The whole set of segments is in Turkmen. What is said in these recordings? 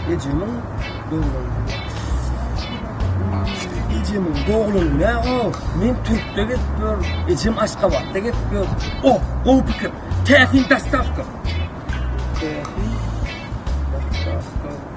Ejemiň döwrüne. Ejemiň dogluny ne o? Men Türkde gitdim. Ejem Aşgabatda gitdim. O, o pikir. Täsin dastavka. Täsin dastavka.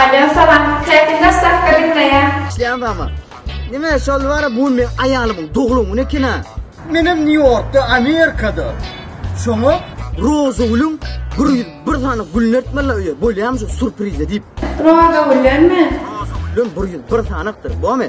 Alýo salam. Käte zastavka diňleýän. Isleýän bamy? Nime şol wara bu gün meň aýalymyň doglan güni ekena. Menem New Yorkda Amerikada şoňa. Rozagülüň bir ýüz bir sany gülüni ertmeli öýe bolýamy şu surprize diýip. Rozagüllenmi? Rozagüllen bir ýüz bir sanakdyr bomy.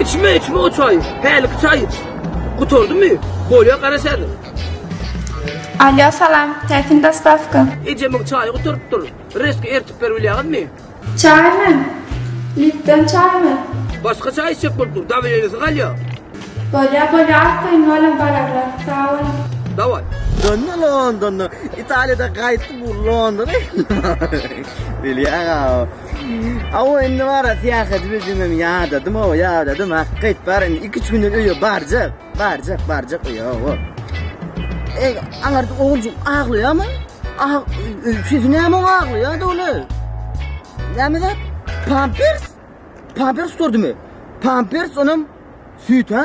Içme içme o çay. Häliki çay. Gutardy mı? Bolya garaşadı. Alyo salam. Täsin dostavka. Ejemiň çaýy gutarypdyr. Reski ertip berip bilýäňizmi? Çaýmy? Lipton çaýmy? Başga çaý içjek bolup dur. Dawilenisi galýa. Bolya bolya az koýun bolam bararlar. Sag bol. Daway. Döndü Londonda. İtalya'da kayıttı bu London'a. Bilýäň-a. Awa indi bara syýahat bildim hem ýadadym awa ýadadym hakga aýt bar indi 2-3 günden öýe barjak barjak barjak öýe awa. Ey aňar oguljyk aglaýamy? Ah siz näme aglaýar dogry? Näme zat? Pampers? Pampers sordumy? Pampers onam süýt ha?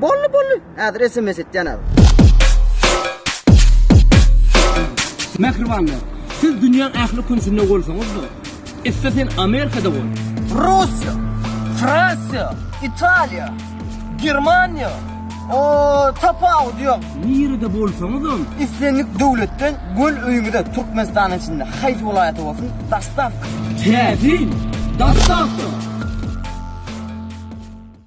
Bolly bolly hazir sms etyan abi. Mähribanlar, siz dünýäň ähli künjünde bolsaňyz-da, etse sen Amerikada bol. Russiýa, Fransiýa, Italiýa, Germaniýa, o tapawut ýok. Nirede bolsaňyzam, islendik döwletden göl öýüňize Türkmenistanyň içinde haýsy welaýata bolsun, dostawka. Täsin, dostawka.